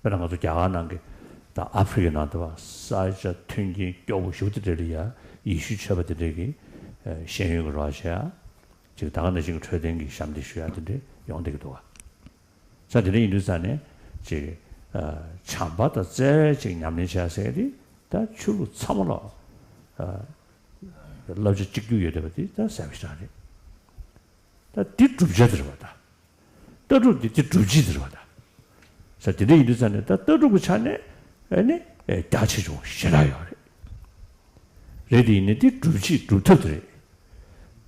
དཔེར་ན་ང་ཚོ་རྒྱ་གར་ནང་གི་དང་ཨ་ཕི་རི་ཀའི་ནང་དུ་བ་ས་ཇ་མཐུན་རྐྱེན་སྐྱོ་བོ་ཞུགས་དེ་འདྲས་ལ་ཡ་ཡི་ཤུ་ཆོད་པ་དེ་འདྲས་ཀྱིས་ཤེས་ཡོན་གྱི་རོགས་བྱས་ཡ་ཅིག་ད་ག་ནས་ཤིག་གི་འཕྲོད་བསྟེན་གྱི་ཞབས་འདེགས་ཞུ་ཡ་དེ་འདྲས་ཡོང་སྡད་ཀྱི་འདུག་ས་དེ་འདྲས་ཡིན་དུས་ས་ནས་ཅིག་བྱམས་པ་དང་བརྩེ་བས་ཅིག་ཉམས་ལེན་བྱས་ཡ་ཟེར་དེ་ད་ཆོས་ལུགས་ཚང་མ་ལ་བསླབ་བྱ་གཅིག་གྱུར་ཡོད་སྡད་པ་དེ་ད་ཟེར་བ་ཞིག་རང་རེད་ད་དེ་སྒྲུབ་བྱ་དེ་རེད་བ་ད། ལྟ་གྲུབ་དེ་དེ་སྒྲུབ་བྱེད་ཟེར་བ་དང། ས་དེ་འདྲ་ཡིན་དུས་ཙམ་ནས་ད་ལྟ་སྒྲུབ་ཀྱི་ཆ་ནས་ནི་རྒྱ་ཆེ་ཆུང་ཞེ་དྲག་ཡོད་རེད། རེད་དེ་ཡིན་ནའི་དེ་སྒྲུབ་བྱེད་སྒྲུབ་ཐབས་དེ་རེད།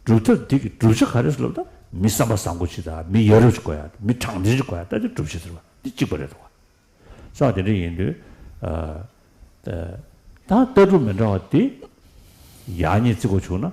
སྒྲུབ་ཐབས་དེ་གི་སྒྲུབ་བྱེད་ག་རེ་སློབ་ན་མི་བསམ་པ་བཟང་པོ་ཅིག་དང་མི་ཡ་རབས་ཅིག་དགོས་ཡ་དང་མི་དྲང་བདེན་ཅིག་དགོས་ཡ་ལྟ་དེ་སྒྲུབ་བྱེད་ཟེར་བ་དེ་གཅིག་པ་རེད་དོ། ས་དེ་འདྲ་ཡིན་དུས་ད་ལྟ་སྒྲུབ་མི་འདྲ་བ་དེ་ཡག་ཉེས་བརྩི་དགོས་བྱུང་ན།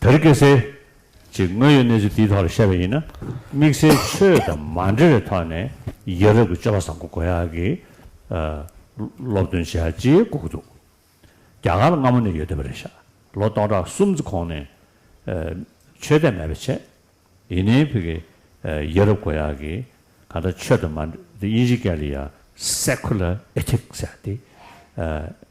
བེར་ཀེ་སེ། ཅེས་དངོས་ཡོད་གནས་ཚུལ་དེའི་ཐོག་ལ་བཤད་པ་ཡིན་ན་དམིགས་བསལ་ཆོས་དང་མ་འབྲེལ་བའི་ཐོག་ནས་ཡ་རབས་ཀྱི་སྤྱོད་པ་བཟང་པོ་གོ་ཡ་གི་སློབ་སྟོན་བྱེད་ཡ་ཅེས་སྒུག་གི་འདུག་རྒྱ་གར་སྔ་མོ་ནས་ཡོད་དེ་བ་རེད་ཤག་ལོ་སྟོང་ཕྲག་གསུམ་ཙི་གོང་ནས་ཆོས་དད་མེད་པའི་ཆེད་ཡིན་ནའི་བྷི་གི་ཡ་རབས་གོ་ཡ་གི་ག་འདྲ་ཆོས་དང་མ་འབྲེལ་དབྱིན་ཇི་ཀ་ལི་ཡ Secular Ethics ཟེར་ཡ་དེ་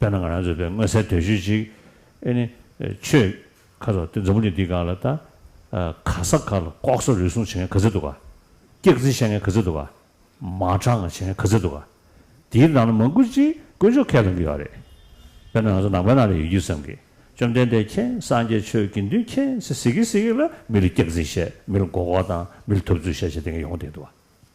དཔེར་ན་ང་རང་ཚོའི་བོད་མངོན་གསལ་དོད་ཤོད་ཅིག་ཨེ་ནི། ཆོས། ཁ་རོག་དེ་འཛམ་བུ་གླིང་འདིའི་སྒང་ལ་ད། ག་ས་ག་ལ་ལྐོག་ཟ་རུལ་སུངས་བྱེད་མཁན་ག་ཚོད་འདུག་ག། སྐྱག་རྫི་བཤད་མཁན་ག་ཚོད་འདུག་ག། མ་དྲང་བྱེད་མཁན་ག་ཚོད་འདུག་ག། དེའི་ནང་ན་མང་དགུ་ཅིག་དཀོན་མཆོག་ཁས་བླངས་གི་ཡོད་རེད། དཔེར་ན་ང་ཚོ་ནང་པའི་ནང་ལ་ཡོད་རྒྱུ་བསམ་གི། བཅོམ་ལྡན་འདས་ཁྱེད་སངས་རྒྱས་ཆོས་དགེ་འདུན་ཁྱེད་ཚེ་ཟིག་གི་ཟིག་གི་ལ་མི་ལ་སྐྱག་རྫི་བཤད་མི་ལ་མགོ་ལྐོག་བཏང་མི་ལ་ཐོབ་ཚུལ་བཤད་བཤད་དེ་ག་ཡོང་བསྡད་འདུག་ག།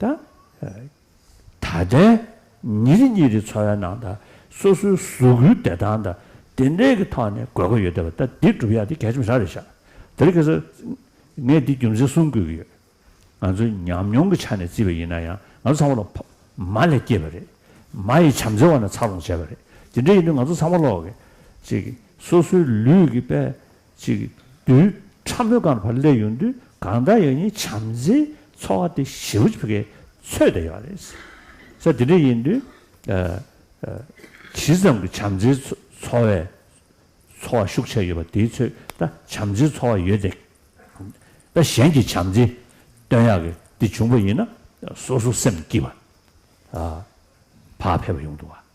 དང། ད་ལྟའི་ཉིན་རེ་ཉིན་རེའི་འཚོ་བའི་ནང་དང་སོ་སོའི་གཟུགས་སྐུའི་བདེ་ཐང་དང་བདེ་འབྲས་ཀྱི་ཐོག་ནས་དགོས་མཁོ་ཡོད་དེ་བ་ད་འདི་སྒྲུབ་ཡག་འདི་གལ་ཆེ་མི་ཧྲ་རེ་བཞག་དེར་ཁེ་སོ། ངས་འདི་རྒྱུ་མཚན་གསུམ་བཀོད་ཀྱི་ཡོད། ང་ཚོས་ཉམས་མྱོང་གི་ཆ་ནས་བརྩིས་པ་ཡིན་ན་ཡང་ང་ཚོ་ཚང་མ་ལོ་མ་ལས་སྐྱེས་པ་རེད། མ་ཡི་བྱམས་བརྩེ་བ་ནས་འཚར་ལོངས་བྱས་པ་རེད། དེ་འདྲ་ཡིན་དུས་ང་ཚོ་ཚང་མ་ལོག་གི། ཅིག། སོ་སོའི་ལུས་ཀྱི་པད་གཅིག། རྡུལ་ཕྲ་མོའི་སྒང་དུ་བར་སླད་ཡོང་དུས་གང་འདྲ་ཡང་ཡིན་བྱམས་བརྩེའི་འཚོ་བ་དེ་ཞི་བ་ཆོལ་ཁའི་ཚོད་ལྟ་ཡོད་པ་རེད། ས་དེ་འདྲ་ཡིན་དུས། ཇི་ཙམ་གྱི་བྱམས་བརྩེའི་འཚོ་བའི་འཚོ་བ་ཤུགས་ཆེ་ཡོད་པ་དེའི་ཚོད་ལྟ་བྱམས་བརྩེའི་འཚོ་བ་ཡོད་དེ། ད་གཞན་གྱིས་བྱམས་བརྩེ་སྟོན་ཡག་གི་དེ་བྱུང་བ་ཡིན་ན་སོ་སོ་སེམས་སྐྱིད་པ། བག་ཕེབས་པ་ཡོང་འདུག་བ།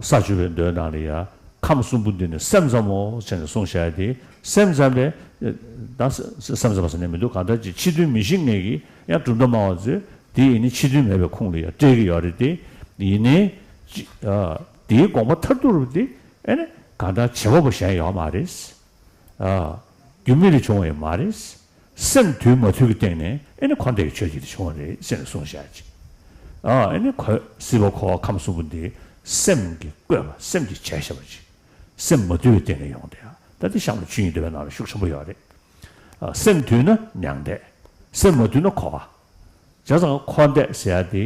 ས་བཅུ་པའི་མདོའི་ནང་ལས་ཡང་ཁམས་གསུམ་པོ་འདི་ནི་སེམས་ཙམ་མོ་ཞེས་ནི་གསུངས་བྱ་སྟེ་སེམས་ཙམ་པས་དང། སེམས་ཙམ་པ་ཟེར་ནས་མི་འདུག་གང་ལྟར་ཅི་ཕྱི་དོན་མི་ཤེས་ངེས་ཀྱི་ཡང་གྲུབ་མཐའ་མང་བ་ཚོས་དེ་ཡིན་ནི་ཕྱི་དོན་མེད་པའི་ཁུངས་ལ་ཡང་སྤྲད་ཀྱི་ཡོད་རེད་དེ། ཡིན་ནའི། དེའི་དགོངས་པ་མཐར་ཐུག་རུ་དེ་ཨེ་ནི་གང་ལྟར་བྱེད་པ་པོ་གཞན་ཡོད་མ་རེད། རྒྱུ་མེད་ལས་བྱུང་བ་ཡང་མ་རེད། སེམས་དུལ་མ་དུལ་གྱི་སྟེང་ནས་ཨེ་ནི་འཁོར་འདས་ཀྱི་ཆོས་ཅིག་དེ་བྱུང་བ་རེད་ཅེས་གསུངས་བཞག་ཅིག། ཨེ་ནི་གོལ་སྲིད་པ་འཁོར་བ་ཁམས་གསུམ་པོ་འདི་སེམས་ཀྱི་བཀོད་པ་སེམས་ཀྱི་བྱས་ཞེས་པ་ཅིག་སེམས་མ་དུལ་བའི་སྟེང་ནས་ཡོང་དེ། ད་ལྟའི་གཤམ་ལ་ཆོས་ཉིད་འདོད་པའི་ནང་ལ་ཤུགས་ཆེན་པོ་ཡོད་རེད། སེམས་དུལ་ན་མྱང་འདས། སེམས་མ་དུལ་ན་འཁོར་བ། བྱས་ཙང་འཁོར་འདས་ཟེར་ཡ་དེ་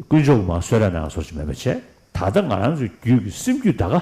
དཀོན་མཆོག་གི་མ་གསོལ་ར་ནང་ལ་ཟོར་ཅིག་མེད་པ་བྱས། ད་ལྟ་ང་རང་ཚོའི་རྒྱུད་ཀྱི་སེམས་རྒྱུད་ད་གའ།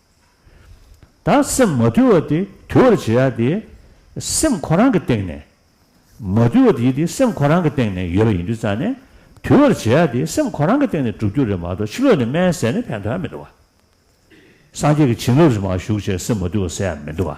ད་སེམས་མ་དུལ་བ་དེ་དུལ་བར་བྱེད་ཡ་དེ། སེམས་ཁོ་རང་གི་སྟེང་ནས། མ་དུལ་བ་དེ་དེ་སེམས་ཁོ་རང་གི་སྟེང་ནས་ཡོད་པ་ཡིན་དུས་རྩ་ནས། དུལ་བར་བྱེད་ཡ་དེ་སེམས་ཁོ་རང་གི་སྟེང་ནས་གྲུབ་རྒྱུ་རེད་མ་གཏོགས་ཕྱི་ལོགས་ནས་སྨན་ཟས་ནི་ཕན་ཐོགས་ཡ་མི་འདུག་བ། སངས་རྒྱས་ཀྱི་བྱིན་རླབས་རི་མ་བཞུགས་ཆེད་སེམས་མ་དུལ་བ་ཟེར་ཡ་མི་འདུག་བ།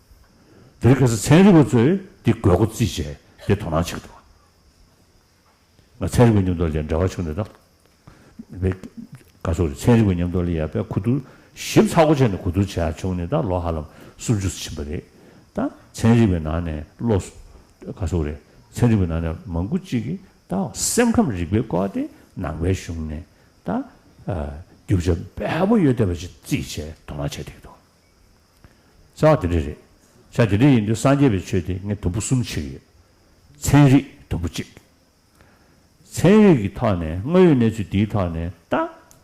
དེར་གལ་སྲིད་ཚན་རིག་པ་ཚོས་འདི་དགོས་མཁོ་རྩིས་བྱས་ཏེ་དོ་སྣང་བྱེད་ཐུབ་ན། ཚན་རིག་པའི་མཉམ་སྡོད་ལས་འབྲེལ་བ་ཆུང་ནས་དང། དཔེ། ཀ་སོགས་རེད། ཚན་རིག་པའི་མཉམ་སྡོད་ལས་ཡག་པས་གོ་བསྡུར། ཞིབ་ཚགས་སྒོ་ཕྱེ་ནས་གོ་བསྡུར་བྱས་ཡག་ཆུང་ནས་དང་ལོ་ཧ་ལམ་སུམ་ཅུ་སུ་ཕྱིན་པ་རེད། ད། ཚན་རིག་པའི་ནང་ནས་བློ། ཀ་སོགས་རེད། ཚན་རིག་པའི་ནང་ནས་མང་པོ་གཅིག་གིས་ད། སེམས་ཁམས་རིག་པའི་སྐོར་དེ་ནང་པའི་གཞུང་ནས་ད། རྒྱུ་ཆ་འབེལ་པོ་ཡོད་བསྡད་པ་ཅིག་རྩིས་བྱས་དོ་སྣང་བྱས་ཐུབ་ཀྱི་འདུག། རྩ་བ་དེ་འདྲ་རེད། ཆ་དེ་འདྲ་ཡིན་དུས་སངས་རྒྱས་པའི་ཆོས་དེ་ངས་དུམ་བུ་གསུམ་ཕྱེ་གི་ཡོད། ཚན་རིག་དུམ་བུ་གཅིག། ཚན་རིག་གི་ཐོག་ནས་དངོས་ཡོད་གནས་ཚུལ་དེའི་ཐོག་ནས་ལྟ་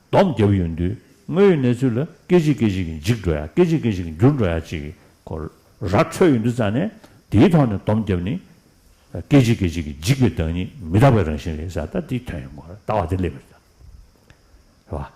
སྡོམ་རྒྱབ་ཡོང་དུས་དངོས་ཡོད་གནས་ཚུལ་ལ་སྐད་ཅིག་སྐད་ཅིག་གིས་འཇིག་འགྲོ་ཡ་སྐད་ཅིག་སྐད་ཅིག་གིས་འགྱུར་འགྲོ་ཡ་ཅིག་གི་གོ་ར་འཕྲོད་ཡོང་དུས་རྩ་ནས་དེའི་ཐོག་ནས་སྡོམ་རྒྱབ་ནི། སྐད་ཅིག་སྐད་ཅིག་གིས་འཇིག་པའི་བདག་ཉིད་མི་རྟག་པའི་རང་བཞིན་རེད་ཟེར་ལྟ་དེའི་དོན་ཡིན་གོ་ར་ལྟ་བ་དེ་སླེབས་པ་རེད།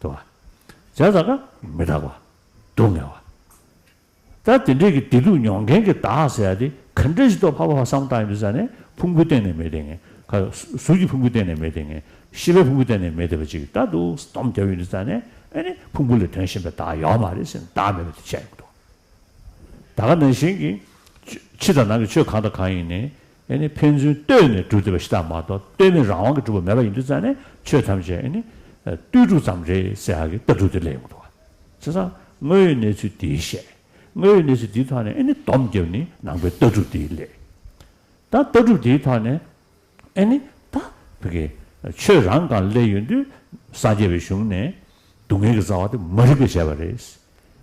དུ་བ། བྱ་ཟ་ཁ་མི་དྲག་པ། སྡུག་བསྔལ་བ། ད་དེ་འདྲས་ཀྱི་བདེ་སྡུག་མྱོང་མཁན་གྱི་བདག་ཟེར་ཡ་དེ་ག་འདྲས་ཤིག་ཏུ་ཕ་བ་བ་བསམ་བཏང་ཡོད་འདུག་ཟེར་ནས་ཕུང་པོའི་སྟེང་ནས་མེད་དེ་ངན་ཁ། གཟུགས་ཀྱི་ཕུང་པོའི་སྟེང་ནས་མེད་དེ་ངན་ཤི་བའི་ཕུང་པོའི་སྟེང་ནས་མེད་དེ་བ་ཅིག་ད་དུ་སྡོམ་བརྒྱབ་ཡོད་འདུག་ཟེར་ནས་ཨེ་ནི་ཕུང་པོ་ལས་དོན་གཞན་པའི་བདག་ཡོད་མ་རེད་ཟེར་ནས་བདག་མེད་པ་དེ་བཤད་ཡོང་གི་འདུག་ད་ག་ནང་བཞིན་གྱི་ཕྱི་དང་ནང་གི་ཆོས་གང་དང་གང་ཡིན་ནི་ཨེ་ནི་ཕན་ཚུན་ལྟོས་ནས་སྒྲུབ་འདོད་པ་ཞི་དག་མ་གཏོགས་ལྟོས་མེད་རང་དབང་གི་སྒྲུབ་པ་མེད་པ་ཡིན་དུས་རྩ་ནས་ཆོས་ཐམས་ཅད་ཨེ་ནི་ལྟོས་གྲུབ་ཙམ་རེད་ཟེར་ཧ་གི་ལྟ་གྲུབ་དེ་ལས་ཡོང་ཐུབ། ཚེ་སང་དངོས་ཡོད་གནས་ཚུལ་འདི་བཤད། དངོས་ཡོད་གནས་ཚུལ་འདིའི་ཐོག་ནས་ཨེ་ནི་སྡོམ་རྒྱབ་ནི་ནང་པའི་ལྟ་གྲུབ་དེའི་ལས། ད་ལྟ་གྲུབ་དེའི་ཐོག་ནས་ཨེ་ནི་ད་བུ་གི་ཆོས་རང་གང་སླད་ཡོད་དུས་སངས་རྒྱས་པའི་གཞུང་ནས་སྡུག་བསྔལ་གྱི་རྩ་བ་དེ་མ་རིག་པས་བྱས་པ་རེད།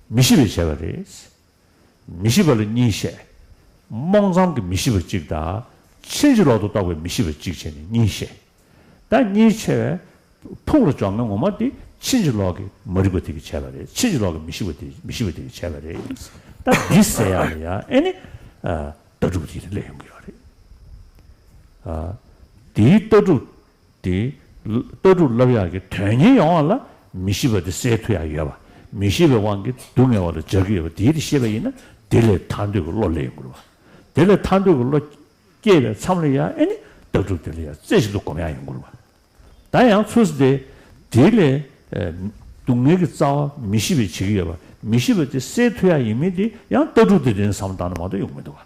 མི་ཤེས་པས་བྱས་པ་རེད། མི་ཤེས་པ་ལ་གཉིས་བཤད། རྨོངས་ཙམ་གྱི་མི་ཤེས་པ་གཅིག་དང། ཕྱིན་ཅི་ལོག་ཏུ་རྟོག་པའི་མི་ཤེས་པ་གཅིག་བྱས་ནས་གཉིས་བཤད། བདག་གཉིས་ཕྱེ་བས། ཕུགས་ལ་འཇོག་མི་ངོ་མ་དེ་ཕྱིན་ཅི་ལོག་གི་མ་རིག་པ་དེ་གིས་བྱས་པ་རེད་ཕྱིན་ཅི་ལོག་གི་མི་ཤེས་པ་དེ་མི་ཤེས་པ་དེ་གིས་བྱས་པ་རེད་ད་འདི་བསལ་ཡག་ལ་ཡག་ཨེ་ནི། ལྟ་གྲུབ་དེའི་ལས་ཡོང་གི་ཡོད་རེད། དེའི་ལྟ་གྲུབ་དེ། ལྟ་གྲུབ་རླབས་ཡག་གི་དོན་གཉེར་ཡོང་བ་ལ་མི་ཤེས་པ་དེ་སེལ་ཐུ་ཡག་ཡོད་པ། མི་ཤེས་པའི་དབང་གིས་སྡུག་བསྔལ་བ་ལ་འཇགས་ཀྱི་ཡོད་པ་དེའི་དེ་ཤེས་པ་ཡིན་ན་དེ་ལས་ཐར་འདོད་ཀྱི་བློ་ལས་ཡིན་དགོས་པ། དེ་ལས་ཐར་འདོད་ཀྱི་བློ་སྐྱེས་པའི་མཚམས་ལ་ཡང་ཨེ་ནི་ལྟ་གྲུབ་དེ་ལ་ཡང་རྩེ་ཞིག་ཏུ་སྒོམ་ཡག་ཡིན་དགོས་པ། ད་ཡང་ཚུལ་ས་དེ། དེ་ལས། སྡུག་བསྔལ་གྱི་རྩ་བ་མི་ཤེས་པས་བྱེད་ཀྱི་ཡོད་པ། མི་ཤེས་པ་དེ་སེལ་ཐུ་ཡག་ཡིན་མིན་དེ་ཡང་ལྟ་གྲུབ་དེ་དོན་དུ་བསམ་སྟངས་ན་མ་གཏོགས་ཡོང་མི་འདུག་ག།